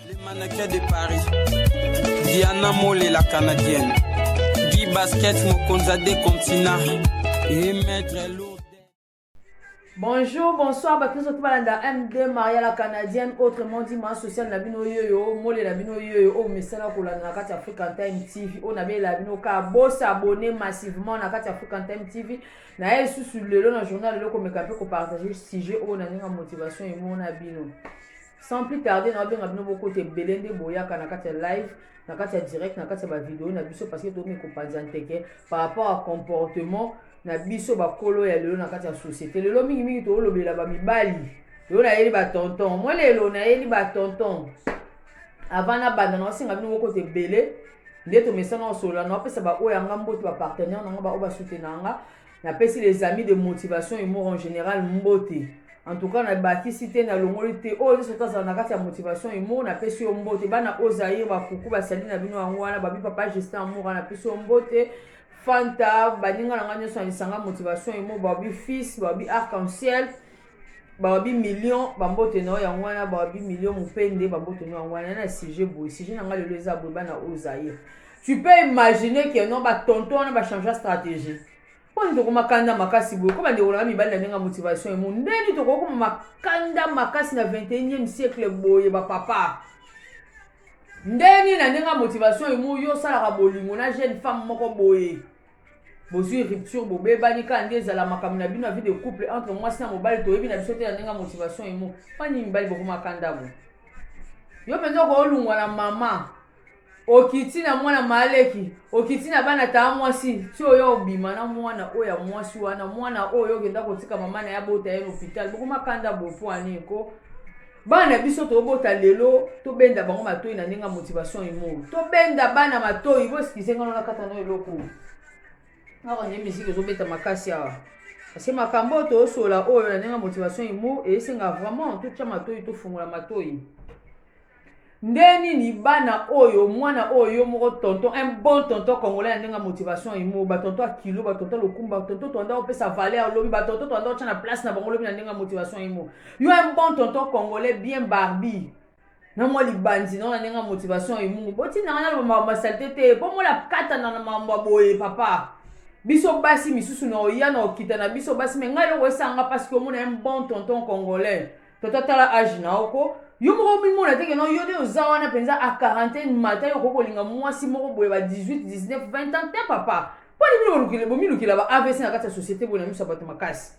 Les mannequins de Paris. Diana Mole, la canadienne. Guy Basket, Mokonza des continents. Et Maître Lourdes. Bonjour, bonsoir, bakristo tout balanda MD Maria la canadienne, autrement dit ma sociale na bino yoyo, mole na bino yoyo, o mesala kolanda na kati African Time TV, o na bela bino ka bo s'abonner massivement na kati African Time TV. Na ye susu lelo na journal lelo komeka pe ko partager sujet o na ninga motivation et mona bino. sans plus tarder naobenga bino bokota ebele nde boyaka na kati ya live na kati ya direct na kati ya bavideo na biso parce que tokomi kopanza nteke par rapport ya comportement na biso bakolo ya lelo na kati ya société lelo mingimingi tokolobela bamibali lelo nayeli batonton mwa lelo nayeli batonton avant nabanda naosenga bino bokota ebele nde tomesana osolola naopesa baoyo yanga mbote bapartenaire nanga baoyo basutena yanga Napesi les amis de motivation humour en general mbote. En tout cas, nabakisi te, nalongoli te. Oyo nyonso oyo azala na kati ya motivation humour, napesi yo mbote. Bana oyo Zaire, bakuku, basali na bino yango wana, babi papa Justin Amour, napesi yo mbote. Fanta, baninga na ngai nyonso na lisanga motivation humour, babi fils, babi arc-en-ciel. bawabi million bambote na yo yango wana bawabi million mopende bambote na yango wana na sujet boye sujet na ngai lelo eza boye bana oyo zaire tu peux imaginer que non batonto wana bachangea stratégie mpo nini tokoma kanda makasi boye ko bandeko nanga mibali na ndenge ya motivation emo ndeni tokokoma makanda makasi na 21e siècle boye bapapa ndeni na ndenge ya motivation emo yo osalaka bolingo na jeune femme moko boye bozwi rupture bobebani kaka nde ezala makambo na bino ya vie de couple entre mwasi na mobali toyebi na biso te na ndenge ya motivation emo pani mibali bokomaka ndako yo mpenza okolungwa na mama okiti na mwana maleki okiti na bana taa mwasi ti oyo obima na mwana oyo ya mwasi wana mwana oyo okenda kotika mama na ye abota ye na hopital bokomakanda bopo ani ko bana na biso tobota lelo tobenda bango matoi na ndenge ya motivation imo tobenda bana matoi boeskize ngano nakata na eloko awa nde miziki ezobeta makasi awa parce makambo oyo tosola oyo na ndenge ya motivation imo esenga vraiment totya matoi tofungola matoi Ndenge nini bana oyo mwana oyo yo moko tonton un bon tonton congolais ya ndenge ya motivation emo ba tonton ya kilo ba tonton lokumba tonton toanda opesa valeur lobi ba tonton toanda otya na place na bango lobi na ndenge ya motivation emo yo un bon tonton congolais bien barbi na mwa libanzi nao na ndenge ya motivation emo botindanga na makambo ya salite te mpo mola katana na makambo ya boye papa biso basi misusu na oya na okita na biso basi me ngai eloko esanga parce que omona un bon tonton congolais tata tala age na yo ko yo moko omimona te keno yo nde oza wana mpenza a quarantaine mata yo okoki kolinga mwasi moko boye ba 18 19 20 ans te papa mpo nini bino bomilukela ba avc na kati ya société boye na miso ya bato makasi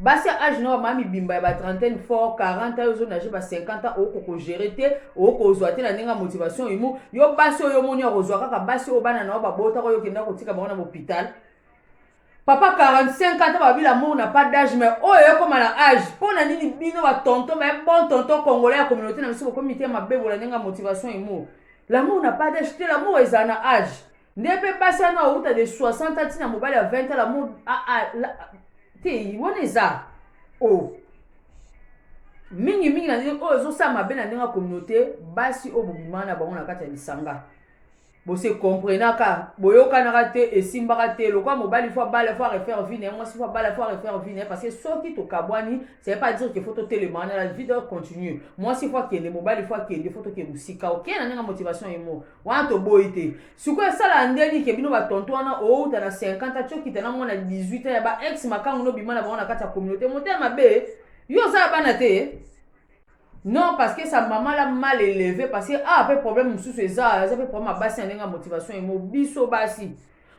basi ya age na bamaya mibimba ya ba trentaine fort 40 yo ozonage ba 50 ans okoki kogere te okoki kozwa te na ndenge ya motivation imo yo basi oyo omoni ya kozwa kaka basi oyo bana na yo babotaka oyo okenda kotika bango na bopital papa 45 ans babi l'amour na pas d'âge mais oyo ekoma na âge mpo na nini bino batonton mais bon tonton congolais ya communauté na biso bokomi mitema mabe bolande nga motivation emo l'amour na pas d'âge te l'amour ezala na âge nde mpe basi wana outa de 60 ans ntina mobali ya 20 ans l'amour ah, ah, te wana eza o oh. mingimingi na ndenge oyo ezosala mabe na ndenge ya communauté basi oyo bobimana na bango na kati ya lisanga bo se comprenaka boyokanaka te esimbaka te lokola mobali fo abala fo arefaire vie na ye mwasi fo abala fo arefaire vie na ye parce que soki tokabwani ça veut pas dire que fo totelemaka na la vie doit continuer mwasi fo akende mobali fo akende fo tokende mosika oke na ndenge motivation ye moko wana toboyi te sikoyo esalaka ndeni ke bino batonto wana outa na 50 ans tiokita na mwana 18 ans ya ba ex makango nobima na bango na kati ya communauté motema mabe yo oza ya bana te Non parce que sa maman l'a mal élevé parce que ah pe problème mususu eza aza pe problème basi na ndenge motivation emo biso basi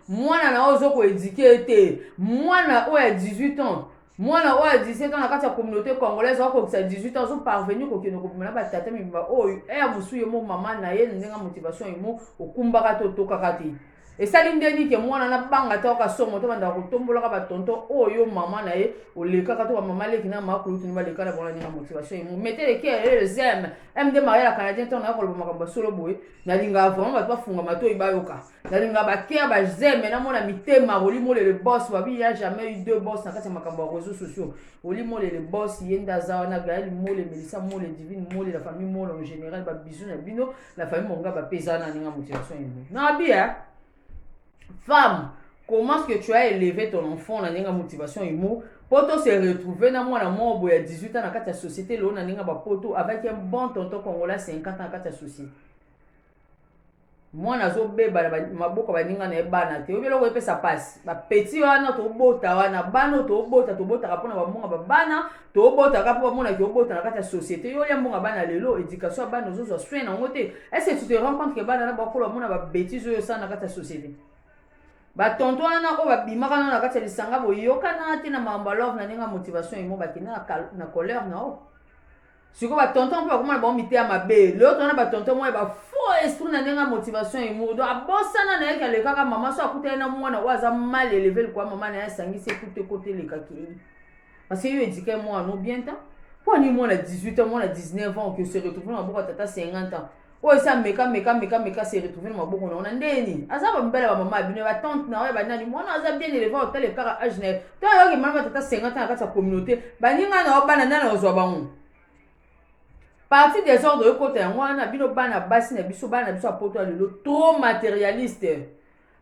mwana na ozo ko éduquer te mwana oyo ya 18 ans mwana oyo ya 17 ans na kati ya communauté congolaise akokisa 18 ans azo parvenir kokende kobima na batata mibimba oyo ere mosusu ye mo mama na ye na ndenge motivation emo okumbaka te otokaka te esali ndeni ke mwana na banga ta oka somo to banda kotombola ka ba tonton oyo oh, mama na ye oleka ka to ba mama leki na ma kulutu ni ba leka na bona ni motivation imo mete le ke le zem em de maria canadien to na ko loba makambo solo boye na linga vraiment ba to funga matoyi ba yoka na linga ba ke ba zem na mona mitema oli mole le boss ba bi ya jamais eu deux boss na kati makambo ya réseaux sociaux oli mole le boss yenda zawa na gaël mole melissa mole divine mole la famille mole en général ba bisous na bino la famille mongaba mpe eza nani nga motivation ene nabi ya femme comment ce que tu as élevé ton enfant na ndenge motivation emo mpo to se retrouve na mwana moko boye ya 18 ans na kati ya société lelo na ndenge bapoto avec un bon tonton congolais 50 ans na kati ya société mwana azobeba na maboko baninga na ye bana te oyebi eloko epesa mpasi bapeti wana tobota wana bana oyo tobota tobotaka mpona bambonga babana tobotaka mpo bamonaki obota na kati ya société yo olia mbongo ya bana lelo éducation ya bana ozozwa soin na yango te est ce que tu te rends compte que bana na bakolo bamona babétise oyo osala na kati ya société batonto wana oyo babimaka nao na kati ya lisanga boyokana te na makambo ya love na ndenge ya motivation emo bakenda na colère na yo sikoyo batonton mpe bakomona bango miteya mabe lelo tona batonton moko ya bafaux esprit na ndenge ya motivation emo donc abosana na ye kalekaka mama so akuta ye na mwana oyo aza mal eleve likoya mama na ye asangisi ekute kotelekaki Parce que yo éduquer moi no bien temps. Pour ni moi na 18 ans, moi na 19 ans que se retrouver na boko tata 50 ans. Oh ça meka meka meka meka se retrouver na boko na ndeni. Aza ba mbela ba maman bino ba tante na ba nani moi na aza bien élevé au tele kara âge na. To yo ki maman tata 50 ans akata communauté. Ba ninga na bana nana ozwa bango. Parti des ordres yo kota yango wana bino bana basi na biso bana biso apoto lelo trop matérialiste.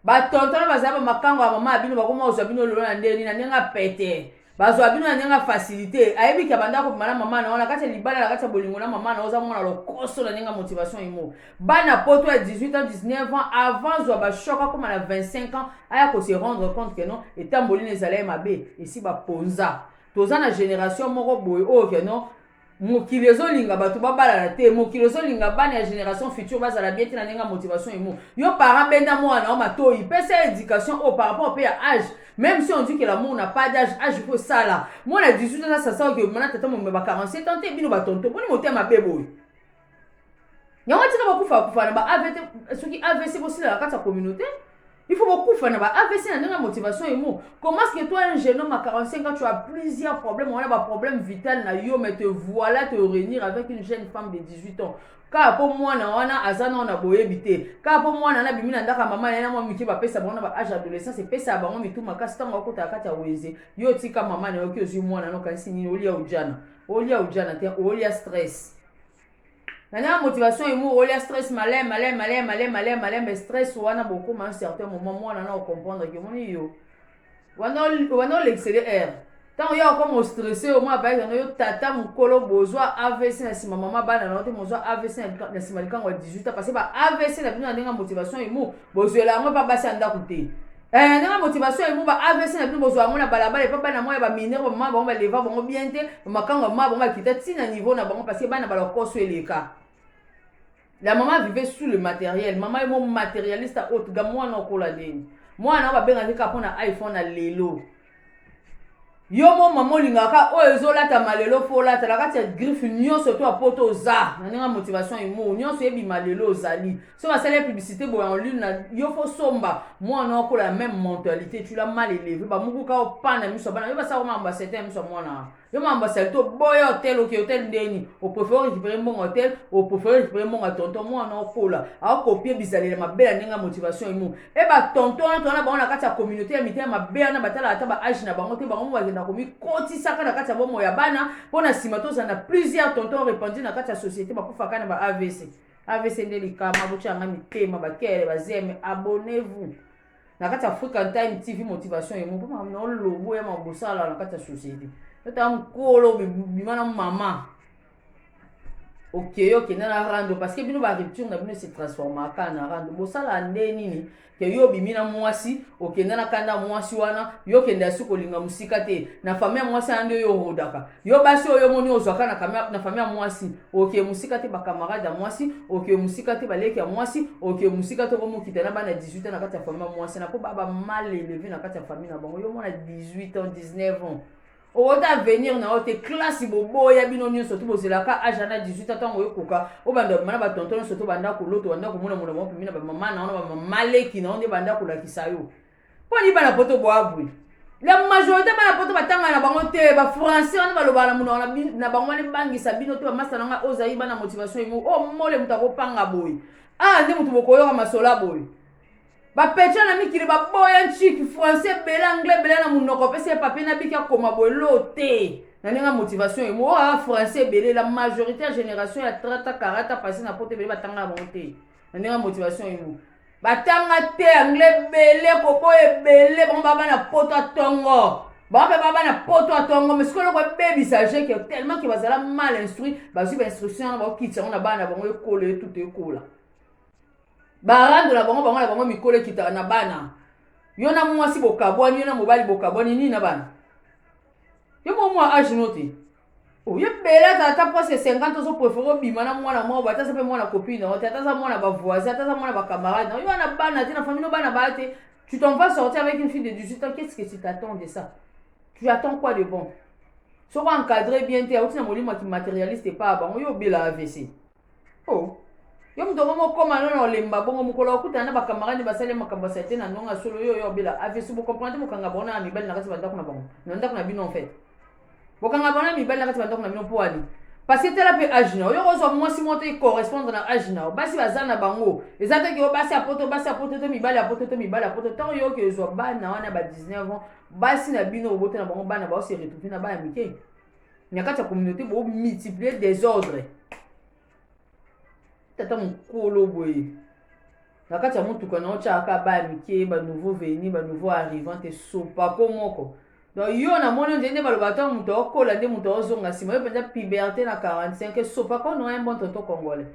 Ba tonton na bazali ba makango ya mama ya bino bakoma kozwa bino lelo na ndenge nini na ndenge ya pete bazwa bino na ndenge ya facilité ayebi ke abanda kobima na mama na yo na kati ya libala na kati ya bolingo na mama na yo oza mwana lokoso na ndenge ya motivation imo bana poto ya 18 ans 19 ans avant zwa bashok akoma na 25 ans aya kose rendre compte ke non etamboli na ezala ye mabe esi baponza toza na génération moko boye oyo ke non mokili ezolinga bato babalana te mokili ezolinga bana ya génération future bazala bien te na ndenge ya motivation emo yo parent benda mwana o matoi pesa ya éducation oyo par rapport mpe ya age même si on dit que l'amour n'a pas d'âge age mpo esala mwana 18 ans asasaka ke mana tata momema ba 47 ans te bino batonto boni motema mabe boye yango tika bakufa bakufa na ba avc soki avc bosila na kati ya communauté il faut bokufa na ba avc na ndenge ya motivation emo comment ce que toi un jeune homme à 45 ans tu as plusieurs problèmes wana ba problème vital na yo mais te voilà te réunir avec une jeune femme de 18 ans kaka mpo mwana wana aza nao na boyebi te kaka mpo mwana wana abimi na ndako ya mama yana mwa mike bapesa bango na ba age adolescence epesa ya bango mitu makasi ntango akotaka kati ya wenze yo otika mama na yoki ozwi mwana na okanisi nini olia ojana olia ojana te olia stress na nanga motivation emu olia stress malin malin malin malin malin malin mais stress wana bokoma un certain moment mwana na ocomprendre ke omoni yo wana olekisele aire ntango yo akoma ostresse yo mwa bayaki yango yo tata mokolo bozwa avc na nsima mama bana na te mozwa avc na nsima likango ya 18 ans parce ba avc na bino na ndenge ya motivation emu bozwela yango mpa basi ya ndako te Eh, nanga motivation ebo ba avc na bino bozwa yango na balabala epa bana mwa ya baminere bamama bango baleva bango bien te bamakango ya mama bango bakita ti na niveau na bango parce que bana balokoso eleka la mama vive sous le matériel mama ye mo matérialiste haute ga mwana okola nini mwana oyo babengaki kaka mpo na iphone na lelo yo mo mama olingaka oyo ezolatama lelo mpo olata na kati ya griffe nyonso to ya poto oza na ndenge ya motivation imo nyonso ebima lelo ozali soki asali publicité boya en ligne na yo fo somba mwana okola ya meme mentalité tula mal eleve bamukuka opana miso bana yo basala komaka basete ya miso ya mwana yo mambo asali to boya hotel oke hotel ndeni oprefere orécupere mbongo hotel oprefere récupere mbongo ya tonton mwana okola akopie bizalela mabe ya ndenge ya motivation emo e batonton wana tona bango na kati ya communauté ya mitema mabe wana batala ata ba age na bango te bango mo bakenda komikotisaka na kati ya bomoi ya bana mpo na nsima tozala na plusieurs tonton répandu na kati ya société bakufaka na ba avc avc nde likama botyanga mitema bakele bazeme abonnez vous na kati ya african time tv motivation ye moko makambo na yo lobo ya makambo bosala na kati ya société otala mokolo bima na mama okeye okenda na rando parce que bino ba rupture na bino se transformaka na rando bosala nde nini ke yo obimi na mwasi okenda na kanda mwasi wana yo okenda ya suki olinga mosika te na famille ya mwasi wana nde yo orodaka yo basi oyo omoni ozwaka na famille ya mwasi oke mosika te bacamarade ya mwasi oke mosika te baleki ya mwasi oke mosika te okomokita na bana 18 ans na kati ya famille ya mwasi na mpo baba mal eleve na kati ya famille na bango yo omona 18 ans 19 ans okota avenir na yo te classe boboya bino nyonso to bozelaka age ana 18 ans ntango oyokoka obanda bamana batonto nyonso to banda kolota obanda komona molamo mapemi na bamama na yo na bamama leki na yo nde banda kolakisa yo mpo ni bana poto boabwi la majorité bana poto batanga na bango te bafrançais wana balobaka na monoko na bango wana ebangisa bino te bamasta na ngai ozali bana motivation yango o oh, mole moto akopanga boye awa ah, nde moto bokoyoka masola boye bapetra na mikili baboya nciki français ebele anglais ebele na monoko opesi ye papie na biki akoma boye lo te na ndenge ya motivation ye moa ah, français ebele la majorité ya génération ya trata karata pasi na poto ebele batanga na bango te na ndenge motivation imo batanga te anglais ebele koboya ebele bango baa bana poto ya tongo bango mpe baa bana poto ya tongo mais sikoyo eloko ebebisa je ke tellement ke bazala mal instruit bazwi bainstruction wana bakokitisa yango na bana na bango ekola etutu ekola barando na bango bango na bango mikolo ekitaka na bana yo na mwasi bokabwani yo na mobali bokabwani nini na bana yo bomwa age no te oye bela aza ata mpasi ya 50 ozo prefere obima na mwana moko bata aza mpe mwana copine na yo te ata aza mwana bavoisin ata aza mwana bacamarade na yo wana bana te na famille no bana baya te tu t'en vas sortir avec une fille de 18 ans qu'est-ce que tu t'attends de ça tu attends quoi de bon soki encadre bien te auti na molimo ya kimaterialiste epa bango yo obela avc Oh. yo moto yango mokoma no na olemba bongo mokolo okutana na bakamarade basali makambo ya salite na ndonga solo yo oyo obela avc ah, bocomprendre bokanga bango na mibali na kati ya bandako na bango na ndako na bino en fait bokanga bango na mibali na kati ya bandako na bino mpo ani parce que tala mpe age na yo yoko ozwa mwasi moko te correspondre na age na yo basi baza na bango eza te keo basi ya poto basi ya poto to mibali ya poto to mibali ya poto ntango yoki ozwa bana wana ba 19 ans basi na bino obota na bango bana baose retrouve na bana mike na kati ya communauté bo multiplier desordre tata mokolo boye na kati ya motuka na otyaka baya mike banouveau veni banouveau arrivant te sopako moko donc yo namoni ondie nde baloba ntango moto aokola nde moto aozonga nsima yo mpenza puberte na 45 sopako no un bon tonto congolais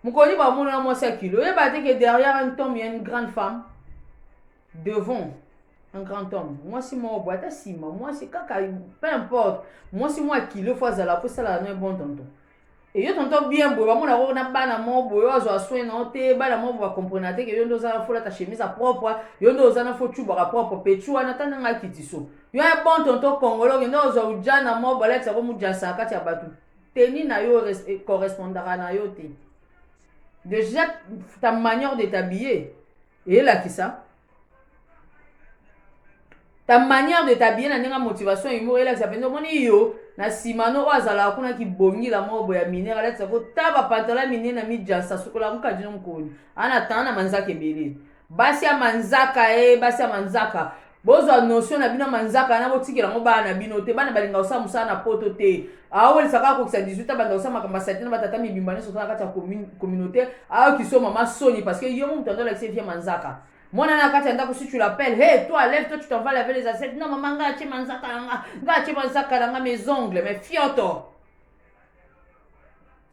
mokoni bamonana mwasi ya kilo oyeba te ke derrière un tome ya une grande femme devant un grand homme mwasi moko boye ata nsima mwasi kaka peu importe mwasi mwa kilo fo azala fo esalaka no bon tonton eyo tonton bien boye bamona koko na bana moko boye oyo azwa soin na yo te bana moko boye bakomprena te ke yo nde oza na fo lata chemise ya propre yo nde oza na fo cubaka propre pecu wana ata ndenge akiti so yo ya bon tonton kongolo okende ozwa ujana moko balakisa ko mujasa na kati ya bato teni na yo correspondaka na yo te déjà ta manière de t'habiller Elakisa ta manière de t'habiller na ndenge motivation humour elakisa mpenza omoni yo na nsima no oyo azalaka kuna kibongila moko boye ya minere alatisa ko ta bapantala minene na mijansa sukola mokadi no mokoni ana tana na manzaka ebele basi ya manzaka e basi ya manzaka bozwa notion na bino manzaka na botikela yango bana na bino te bana balinga kosala mosala na poto te aowelisa kaka kokisa 18 a banda kosala makambo ya salite na batata mibimba nyonso to na kati ya communauté ayoki so mama soni parce que yo moto andolakisa vie manzaka mwana na kati ya ndako si tu l'appelles hey toi lève toi tu t'en vas laver les assiettes non mama nga atie manzaka na nga nga atie manzaka na nga mes ongles mes fioto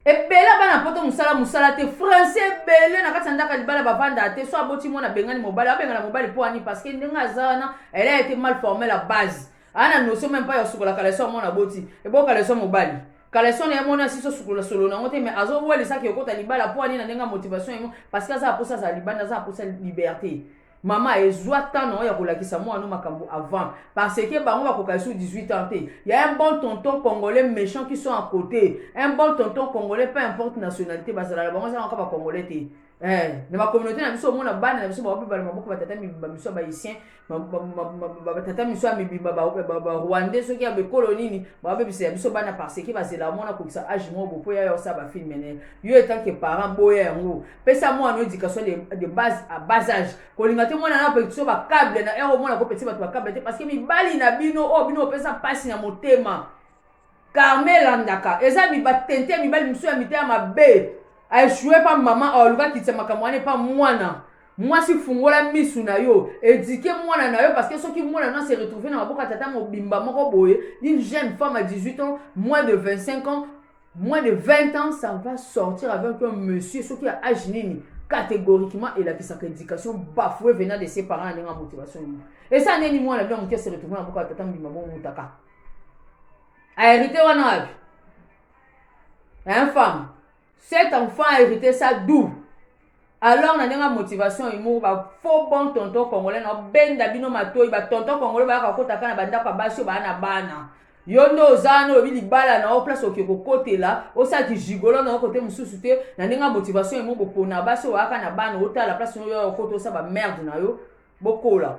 ebele ya bana poto mosala mosala te français ebele na kati ya ndako ya libala bavandaka te so aboti mwana abengani mobali abengana mobali mpo ani parce que ndenge aza wana elle a été mal formée la base aa na notion meme mpa ya kosukola kaleso ya mwana aboti ebo kaleso ya mobali kaleso na ye mwana asiso sukola solo na yango te mais azowelisaki okota libala mpo ani na ndenge ya motivation yango parce que aza aposa azala libanda aza aposa liberté Mama e zwa temps na yo ya kolakisa mwana no makambo avant parce que bango bakoka esu 18 ans te ya un bon tonton congolais méchant qui sont à côté un bon tonton congolais peu importe nationalité bazalaka bango ezalaka ba congolais te eh, na bacommunauté na biso omona bana na biso baobibala maboko batata mibimba miso ya bahaïtien batata miso ya mibimba barwandais soki ya bekolo nini baobebisa ya biso bana parce que bazela mwana kokisa age moko bopo ya yo osala bafilme ne yo etanke parent boya yango pesa mwana education de, de base à bas âge kolinga te mwana na petit ba câble na ero mwana ko petit ba ba câble te parce que mibali na bino o oh, bino pesa pasi na motema Carmel andaka eza mi batente mibali musu ya mitema mabe a échouer pa maman a oluka kitsa makambo wana pa mwana mwasi fungola misu na yo edike mwana na yo parce que soki mwana na se retrouver na maboko ya tata mobimba moko boye une jeune femme à 18 ans moins de 25 ans moins de 20 ans ça va sortir avec un monsieur soki ya age nini catégoriquement elakisaka éducation bafoue venant de ses parents na ndenge ya motivation nini esa neni mwana bino moke se retrouve na boka tata mbima bomutaka ahérité wana wapi un femme cet enfant a hérité ça d'où alors na ndenge motivation humour ba faux bon tonton congolais na benda bino matoi ba tonton congolais ba ka kota kana banda kwa basio ba na bana yo nde oza wana oyebi libala na yo place oke kokotela osala kijigolo na yo kote mosusu te na ndenge ya motivation emo bopona basi oyaka na bana otala place oyo okota osala bamerde na yo bokola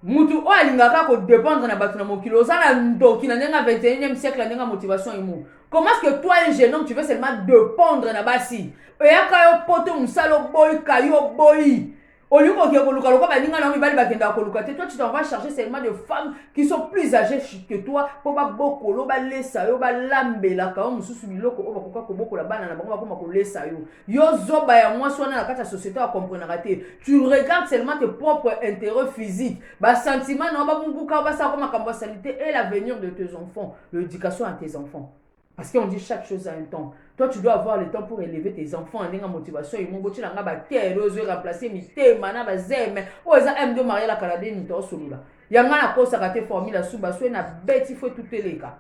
mutu oyo alingaka kodépendre na bato na mokili oza na ndoki na ndenge ya 21e siècle na ndenge ya motivation imo comment ce que toi un jeune homme tu veux seulement dépendre na basi eyaka yo poto mosala oboyi kayi oboyi olingi kokende koluka lokola baninga na yo mibali bakendaka koluka te toi tu t'en vas charger seulement de femmes qui sont plus âgées que toi mpo babokolo balesa yo balambelaka yo mosusu biloko oyo bakoka kobokola bana na bango bakoma kolesa yo yo zoba ya mwasi wana na kati ya société akomprenaka te tu regarde seulement tes propres intérêt physique basentiment na yo babubuka basalako makambo ya salite et l'avenir de tes enfants l'éducation ya tes enfants parce qu'on dit chaque chose à un temps toi tu dois avoir le temps pour élever tes enfants ndenge motivation emo botyela nga bakele ozwi remplace mitema na bazeme oyo eza m de maria la canadie moto osolola yanga nakosaka te formule ya suba soki na beti fo etuteleka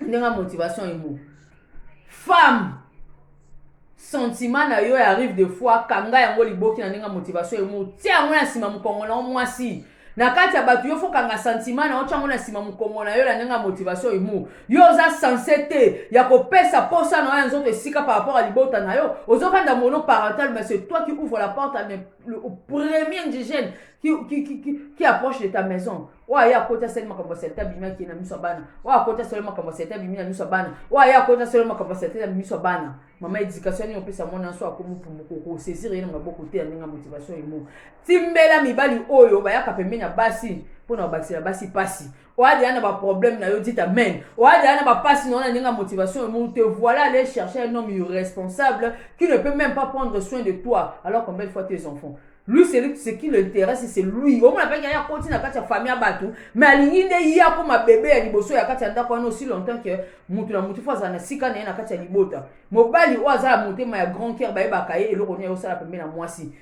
ndenga motivation emo femme sentiment na yo ya rive de foi kanga yango liboki na ndenge ya motivation emo tia yango na nsima mokongo na yo mwasi na kati ya bato yo fokanga santima na yo tyango na nsima mokongo na yo na ndenge ya motivation emu yo oza sense te ya kopesa mposa na yo ya nzoto esika par rapport ya libota na yo ozokanda mono parental mais c'est toi qui ouvre la porte le premier indigène qui, qui, qui, qui approche de ta maison oyo aye akoti asali makambo ya salite abimi akei na miso ya bana oyo akoti asali makambo ya salite abimi na miso ya bana oyo aye akoti asali makambo ya salite na miso ya bana mama edikatio nini opesa mwana nso akomi mpumuko okosezire ye na maboko te ya ndenge ya motivation emo timbela mibali oyo bayaka pembeni ya basi mpo na kobakisela basi mpasi oadi ya na baproblème na yo dit amen oadi ya na bapasi na yo na ndenge ya motivation emo te voilà aller chercher un homme irresponsable qui ne peut même pas prendre soin de toi alors combien de fois tes enfants lui celui ce qui l'intéresse c'est lui omona mpaki aya koti na kati ya famille ya bato me alingi nde ye akoma bebe ya liboso ya kati ya ndako wana aussi longtemps que motu na motu fo azala na sika na ye na kati ya libota mobali oyo aza ya motema ya grand cœur bayebaka ye eloko nini ayosala pembe na mwasi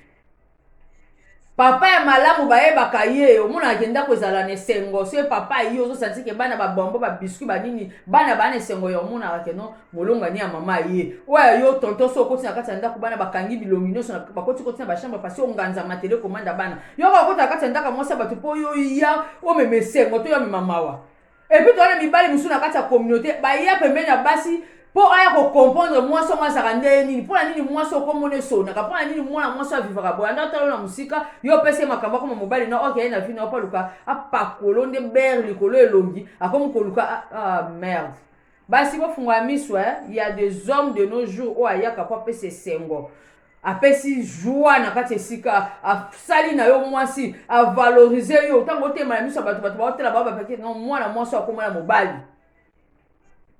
papa ya malamu bayebaka ye omonaka ke ndako ezala na esengo soki papa ayi ozosanti ke bana babombo babiscuit banini bana baa na esengo ya omonaka ke no molongani ya mama ye oyo ya yo tonton so okoti na kati ya ndako bana bakangi bilongi nyonso bakoti koti na bachambre pasi onganza matele komanda bana yoko okota na kati ya ndako ya mwasi ya bato mpo yo ya omema esengo to yo amema mawa epuis towana mibali mosusu na kati ya communauté baya pembeni ya basi mpo aya kokomprendre mwasi yango azalaka ndeye nini mpo na nini mwasi okomona esonaka mpo na nini mwana mwasi avivaka boye anda talo na mosika yo opesi ye makambo akoma mobali na oke ye na vino apaluka apakolo nde bere likolo elongi akomi koluka ah, ah, merde Basi bo fungola misu hein, il y a des hommes de nos jours oyo ayaka po apesa esengo. apesi joie na kati esika asali na yo mwasi avalorize yo ntango otema na miso ya bato bato baotala bao bapaki no mwana mwasi oyo akoma na mobali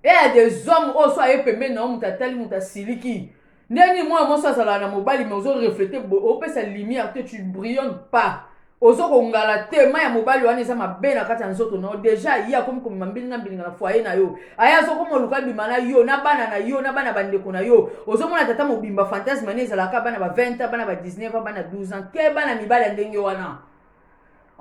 e ya des hommes oyo so aye pembeni na yo moto atali moto asiliki ndenge nini mwana mwasi azalaka na mobali me ozo reflete opesa lumière te tu brillonne pas ozo kongala te mai ya mobali wana eza mabe na kati ya nzoto na yo deja ye akomi komema mbilinga mbilinga na foye na yo aye azokoma oluka abima na yo na bana na yo na bana bandeko na yo ozomona tata mobimba fantasme ne ezalaka bana ba 20 ans bana ba 19 ans bana 12 ans ke bana mibali ya ndenge wana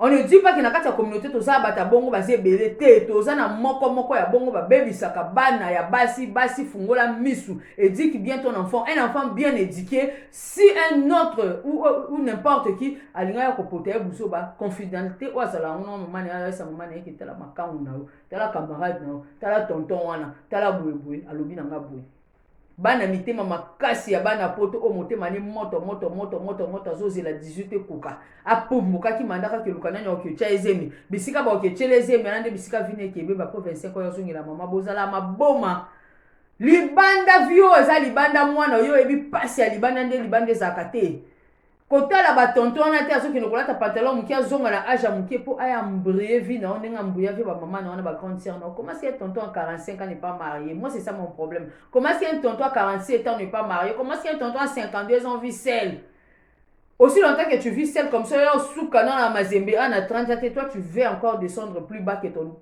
on ne dit pas que na kati ya communauté toza bato ya bongo baza ebele te toza na moko moko ya bongo babebisaka bana ya basi basi fungola misu éduque bien ton enfant un enfant bien éduqué si un autre ou, ou, ou n'importe qui alinga ya kopota ye buzoba confidentialité oyo azala yango na mama na ye ayesa mama na ye ke tala makangu na yo tala camarade na yo tala tonton wana tala boye boye alobi na nga boye bana mitema makasi ya bana poto oyo motema ne moto moto moto moto moto azozela 18 ekoka apumbukaki manda kaka eluka nani okiotia ezemi bisika baokiotiela ezemi ana nde bisika vina ekebe bapo 25 oyo azongela mama bozala maboma libanda vio eza libanda mwana oyo oyebi mpasi ya libanda nde libanda ezalaka te kotala batonto wana te azokende kolata pantalon moke azonga na age ya moke mpo aya mbrie vie na yo ndenge ambuya vie bamama na wana bagrande sœur na yo comment si un tonton à 45 ans n'est pas marié moi c'est ça mon problème comment si un tonton à 47 ans n'est pas marié comment si un tonton à 52 ans vit seul aussi longtemps que tu vis seul comme ça yo suka na na mazembe a na 30 ans te toi tu veux encore descendre plus bas que ton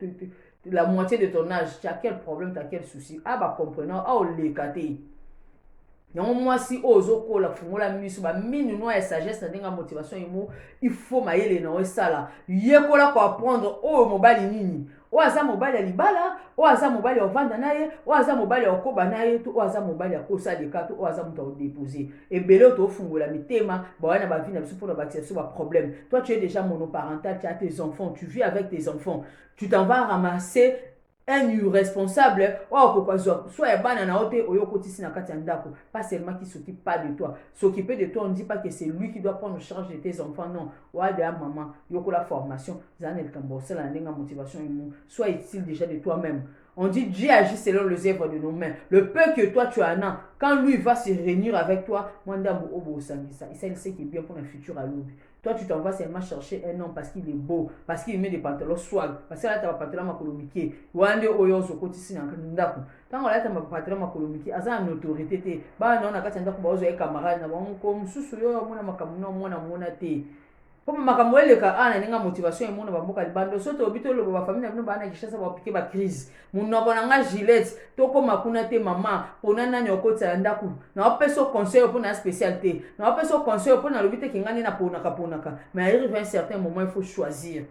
la moitié de ton âge tu as quel problème tu as quel souci a ah, ba comprenant a ah, oleka te yango mwasi oyo ozokola fungola miso baminu noa ya sagesse na ndenge ya motivation imo il faut mayele na yo esala yekola koapprendre oyo mobali nini oyo aza mobali ya libala oyo aza mobali ya ovanda na ye oyo aza mobali ya okoba na ye to oyo aza mobali ya kosa deka to oyo aza moto ya odepose ebele oyo toofungwela mitema bawai na bavi na biso mpo na bakisa biso baproblème toi tu es déjà monoparental tu as tes enfants tu vis avec tes enfants tu t'en vas ramasser un irresponsable oyo akoka zwa swa ya bana na yo te oyo okotisi na kati ya ndako pas seulement qui s'occupe pas de toi s'occuper de toi on dit pas que c'est lui qui doit prendre charge de tes enfants non wade ya maman yokola formation zala na likambo osala na ndenge ya motivation imo soit utile déjà de toi même on dit Dieu agit selon les œuvres de nos mains le peu que toi tu en as quand lui va se réunir avec toi mwa ndambo oyo bosangisa esaliseki bien mpo na futur alobi Toi, tu t'en vas seulement chercher un homme parce qu'il est beau, parce qu'il met des pantalons swag, parce qu'il a des pantalons makolomike. Wande oyo ozo koti sina ndaku. Tango alata ma pantalon makolomike, aza en autorité te. Ba na na kati ndaku ba ozo ye camarade na bango ko mususu yo mona makambo na mona mona te. Comme makambo eleka ana ninga motivation emona ba mboka libando soto obito lobo ba famille na bino ba na kishasa ba piquer ba crise. munoko na nga gilette tokoma kuna te mama pona nani okotisa ya ndako naopesa o conseil mpo na spécial te naopesa o conseil mpo nalobi te kinga nde naponaka ponaka mais arrive un certain moment il faut choisir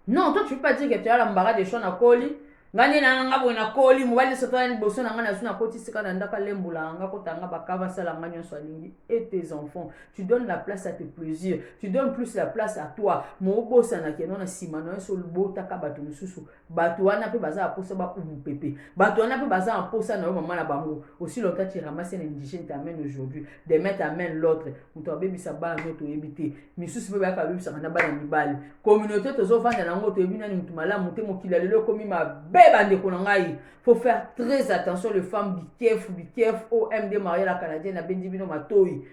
non toi tu peux pas dire que tu as l'embarras des choix nakoli nga nde nanga nga boye nakoli mobali soto ya liboso na nga nazwi nakoti sika na ndako alembula nga kotanga bakava asala nga nyonso alingi et tes enfants tu donnes la place à tes plaisirs tu donnes plus la place à toi mobosana keno na nsima na yo so olobotaka bato mosusu bato wana mpe baza na mposa baumupepe bato wana mpe baza na mposa na yo mama na bango aussi longtemps tu ramasse un indigène t'amène aujourd'hui demain t'amène l'autre moto abebisa bana no toyebi te misusu mpe bayaka babebisaka na bana mibali communauté tozovanda na yango toyebi nani moto malamu te mokili ya lelo ekomi mabe bandeko na ngai faut faire très attention les femmes be careful be careful oh md maria la canadienne abendi bino matoi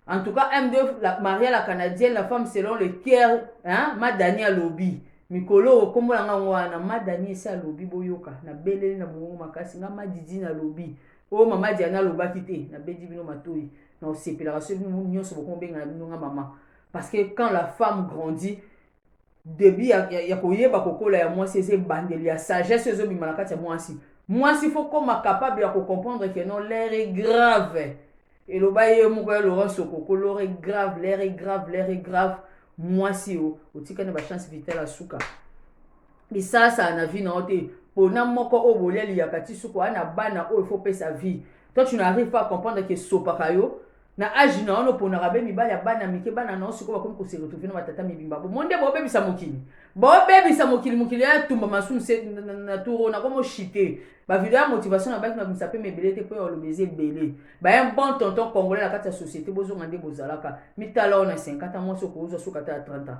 en tout cas md la, maria la canadienne la femme selon le cœur hein madani alobi mikolo oyo nkombo na ngai wana madani esi alobi boyoka nabeleli na mongongo makasi ngai madidi nalobi oyo mama diana alobaki te nabedi bino matoi na osepelaka soki nyonso bokomi obenga na bino ngai mama parce que quand la femme grandit debut ya, ya, ya koyeba kokola ya mwasi eza ebandeli ya sagesse oyo ezobima na kati ya mwasi mwasi fo koma capable ya kocomprendre ke non l'air est grave eloba ye moko ya laurent sokoko l'air est grave l'air est grave l'air est grave mwasi o otikani bachance vital asuka lisasa na vi na yo te pona moko oyo bolia liyaka ti suku aa na bana oyo fo pesa vie toi tu n'arrive pas à comprendre ke esopaka yo na age na wana oponaka be mibali ya bana mike bana na osi koba komi koseretrouve na batata mibimba bomo nde bobebisa mokili bobebisa mokili mokili ya tumba masumu se na turo na komo chite bavideo ya motivation na baki mabimisa mpe mebele te mpo ya oloba eza ebele baye bon tonton congolais na kati ya société bozonga nde bozalaka mitala oyo na 50 ans mwasi okozwa soki ata ya 30 ans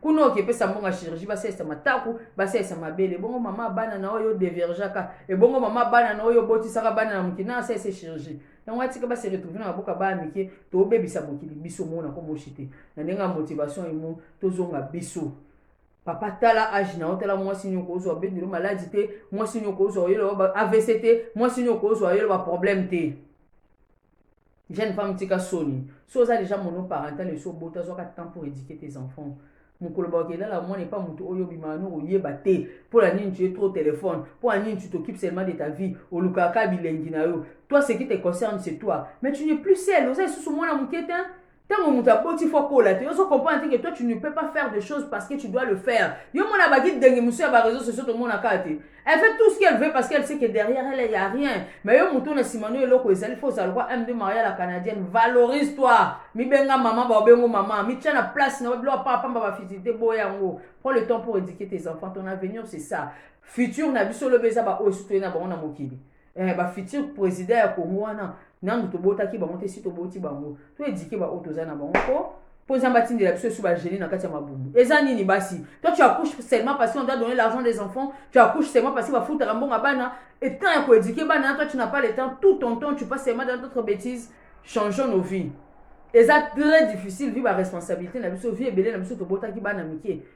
kuna oke pesa mbonga chirurgie basalisa mataku basalisa mabele ebongo mama bana na oyo devergeaka ebongo mama bana na oyo obotisaka bana na mokili na asalisa chirurgie yango atika base retrouve na baboka baa mike tobebisa mokili biso mona komoshi te na ndenge ya motivation emo tozonga biso papa tala age na yo tala mwasi nini okozwa bendelo maladi te mwasi nini okozwa oyelo avc te mwasi nini okozwa oyelo baproblème te jeune femme tika soni so oza deja monoparental esi obota zwaka temps pour éduquer tes enfants mokolo bakoki elala mwana epa moto oyo obimaka no koyeba te mpo na nini tu es trop téléphone mpo na nini tu t'occupe seulement de ta vie olukaka kaka bilengi na yo toi ce qui te concerne c'est toi mais tu n'es plus seul oza lisusu mwana moke te ntango moto aboti fo akola te ozo comprendre te que toi tu ne peux pas faire des choses parce que tu dois le faire yo mona bagide denge mosusu ya bareseau sociaux tomonaka te elle fait tout ce qu'elle veut parce qu'elle sait que derrière elle ya rien mais yo moto na nsima no eloko ezali fo ozala lokwa m de maria la canadienne valorise toi mibenga mama baobengo mama mitya na place na biloko pa pamba bafiti te boya yango prends le temps pour éduquer tes enfants ton avenir c'est ça futur na biso lobi eza baoyo sotoye na bango na mokili eh, ba futur president ya congo wana nanu tobotaki bango te si toboti bango to edike baoyo toza na bango po po nzambe atindela biso esu bagene na kati ya mabumu eza nini basi toi tu accouche seulement parce qu'on doit donner l'argent des enfants tu accouche seulement parce que bafutaka mbonga bana et temps ya koedike bana toi tu n'as pas le temps tout ton temps tu passes seulement dans d'autres bêtises changeons nos vies eza très difficile vie baresponsabilité na biso vie ebele na biso tobotaki bana mike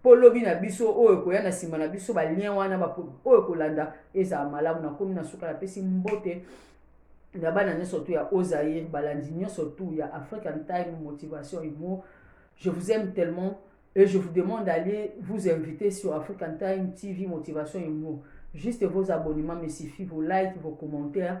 Mpo lobi na biso, oyo ekoya na nsima na biso, balien wana oyo ekolanda ezala malamu. Nakomi na suka, napesi mbote na bana nyonso tu ya Ozaïr, balandi nyonso tu ya African Time Motivation Humour. Je vous aime tellement et je vous demande d'aller vous inviter sur African Time TV Motivation Humour. Juste vos abonnements me suffit, vos likes, vos commentaires.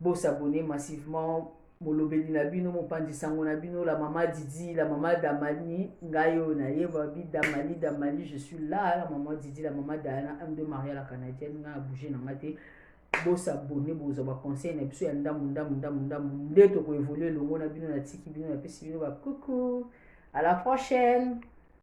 bo s'abonner massivement molobeli na bino mopanzi sango na bino la mama didi la mama damani ngai oyo nayeba bi damani damani je suis là la mama didi la mama diana m de maria la canadienne ngai abouge na ngai te bosabone bozwa baconseil na biso ya ndambo ndambo ndambo ndambo nde tokoevolue elongo na bino natiki bino napesi bino bakuku à la prochaine